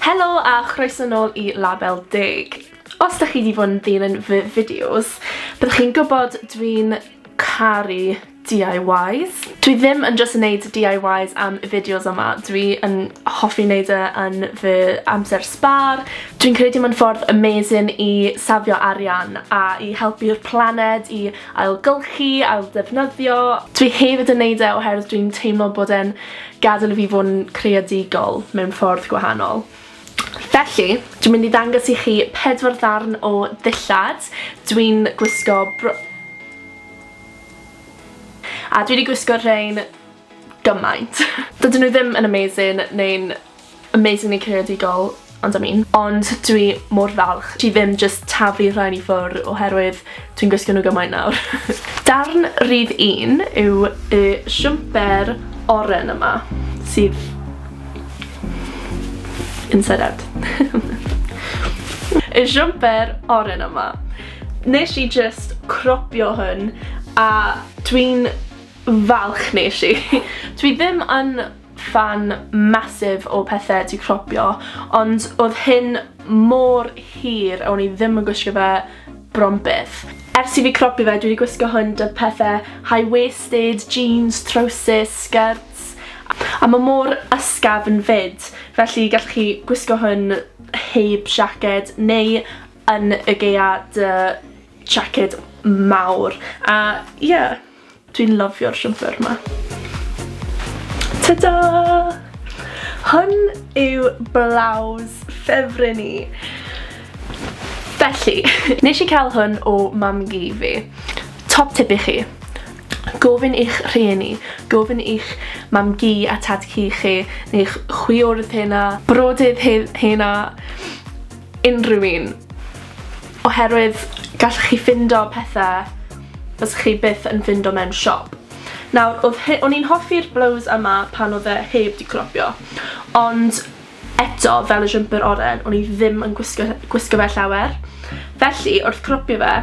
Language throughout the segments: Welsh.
Helo a chroeso nôl i Label Deg. Os da chi di fod yn ddilyn fy fideos, byddwch chi'n gwybod dwi'n caru DIYs. Dwi ddim yn jyst yn neud DIYs am y fideos yma, dwi yn hoffi neud e yn fy amser sbâr. Dwi'n credu mae'n ffordd amazing i safio arian a i helpu'r planed i ailgylchu, ailddefnyddio. Dwi hefyd yn neud e oherwydd dwi'n teimlo bod e'n Gadael i fi fod yn creadigol mewn ffordd gwahanol. Felly, dwi'n mynd i ddangos i chi pedwar ddarn o ddillad. Dwi'n gwisgo bro... A dwi 'di gwisgo rhein gymaint. Dydyn nhw ddim yn amazing neu'n Amazingly creadigol, ond am un. Ond dwi mor falch ti ddim jyst taflu rhain i ffwr oherwydd dwi'n gwisgo nhw gymaint nawr. Darn rhif un yw y siwmper oren yma sydd inside out. Y siwmper oren yma. Nes i jyst cropio hwn a dwi'n falch nes i. Dwi ddim yn ffan massive o pethe ti cropio, ond odd hyn mor hir o'n i ddim yn gwisgo fe bron byth. Ers i fi cropio fe dwi 'di gwisgo hwn 'da pethe high waisted, jeans, trowsus, skirts, a ma' mor ysgafn 'fyd, felly gallwch chi gwisgo hwn heb siaced neu yn y gaeaf 'da siaced mawr, a ie. Dwi'n lyfio'r siwmper ma. Ta-da! Hwn yw blouse ffefryn i. Felly, nes i cael hwn o mam-gu fi. Top tip i chi, gofyn i'ch rhieni, gofyn i'ch mam-gu a tad-cu chi, neu'ch chwiorydd hena, brodydd he- hena, unrhyw un, oherwydd gallwch chi ffindo pethe fysech chi byth yn ffindo mewn siop. Nawr, oedd he- o'n i'n hoffi'r blows yma pan oedd e heb 'di cropio, ond eto, fel y jumper oren, o'n i ddim yn gwisgo gwisgo fe llawer. Felly, wrth cropio fe,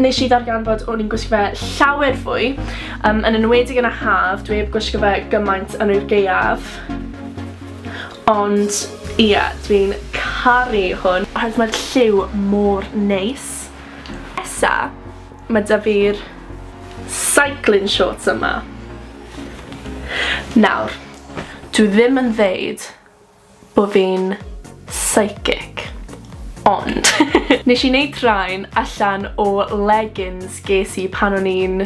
nes i ddarganfod o'n i'n gwisgo fe llawer fwy, um, yn enwedig yn y haf, dwi heb gwisgo fe gymaint yn yr gaeaf. Ond ie, dwi'n caru hwn. Oherwydd mae'r lliw mor neis. Nesa, mae 'da fi'r cycling shorts yma. Nawr, dwi ddim yn ddeud bo' fi'n psychic, ond nesh i neud rhain allan o leggings ges i pan o'n i'n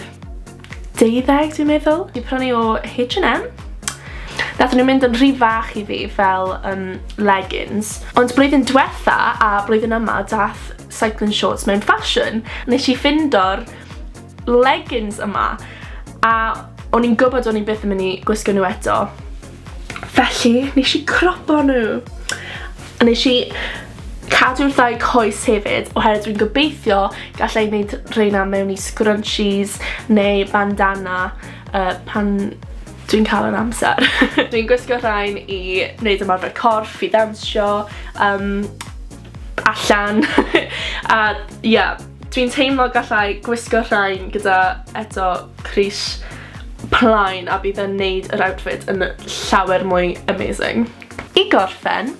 deuddeg dwi'n meddwl, fi prynu o H&M, nathon nhw mynd yn rhy fach i fi fel um, leggings, ond blwyddyn diwetha a blwyddyn yma dath cycling shorts mewn ffasiwn, nes i ffindo'r leggings yma, a o'n i'n gwybod o'n i'n byth yn mynd i gwisgo nhw eto, Felly, nes i cropo nhw. A nes i cadw'r ddau coes hefyd, oherwydd dwi'n gobeithio gallai wneud rheina mewn i scrunchies neu bandana uh, pan dwi'n cael yr amser. dwi'n gwisgo rhain i wneud ymarfer corff, i ddawnsio, um, allan, a ia. Yeah. Dwi'n teimlo gallai gwisgo rhain gyda eto crys plaen a bydd yn neud yr outfit yn llawer mwy amazing. I gorffen,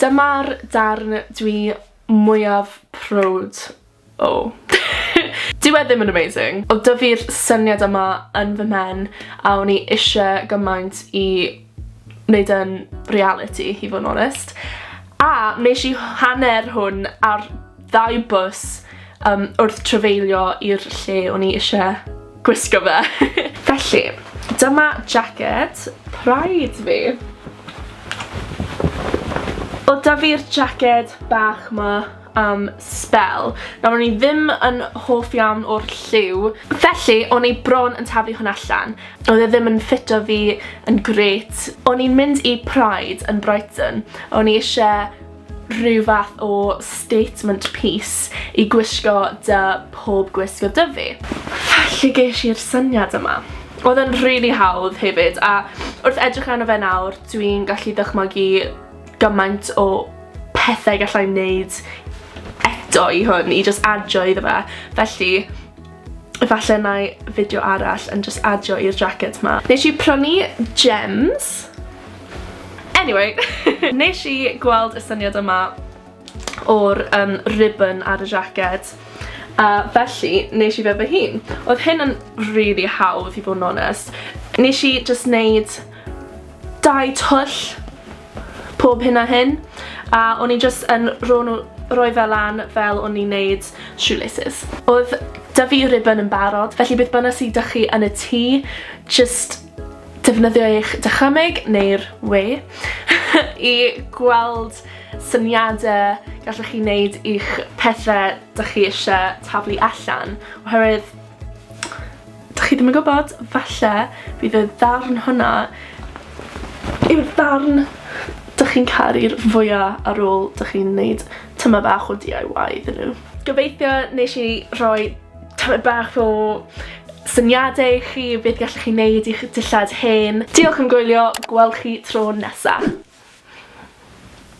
dyma'r darn dwi mwyaf prowd o. Dyw e ddim yn amazing, ond dyfi'r syniad yma yn fy mhen a o'n i isie gymaint i neud e'n realiti i fod yn onest. A nesh i hanner hwn ar ddau bws yym wrth trafeilio i'r lle o'n i ishe gwisgo fe. Felly, dyma jacket Pride fi. Wel 'da fi'r jacket bach 'ma am sbel. Nawr o'n i ddim yn hoff iawn o'r lliw, felly o'n i bron yn taflu hwn allan. Oedd e ddim yn ffito fi yn grêt. O'n i'n mynd i Pride yn Brighton. O'n i eisiau rhyw fath o statement piece i gwisgo dy pob gwisgo dy fi. Felly geis i'r syniad yma. Oedd e'n rili hawdd hefyd a wrth edrych arno fe nawr dwi'n gallu dychmygu gymaint o pethau gallai wneud eto i hwn, i just adio iddo fe. Felly, efallai na i fideo arall yn just adio i'r jacket ma. Nes i prynu gems. Anyway, nes i gweld y syniad yma o'r um, ribbon ar y jacket. A felly, nes i fe fy hun. Oedd hyn yn really hawdd i fod yn onest. Nes i just wneud Dau twll pob hyn a hyn a o'n i jyst yn rho nhw, rhoi fe lan fel o'n i'n neud shoelaces. Oedd 'da fi ribbon yn barod, felly beth bynnag sy 'da chi yn y tŷ, jyst defnyddio eich dychymyg, neu'r we, i gweld syniadau gallwch chi wneud i'ch pethau 'da chi eisiau taflu allan, oherwydd Dych chi ddim yn gwybod, falle bydd y ddarn hwnna yw'r ddarn dych chi'n caru'r fwya ar ôl dych chi'n neud tyma bach o DIY iddyn nhw. Gobeithio nes i rhoi tymed bach o syniadau i chi beth gallwch chi neud i'ch dillad hen. Diolch am gwylio, gwel chi tro nesa.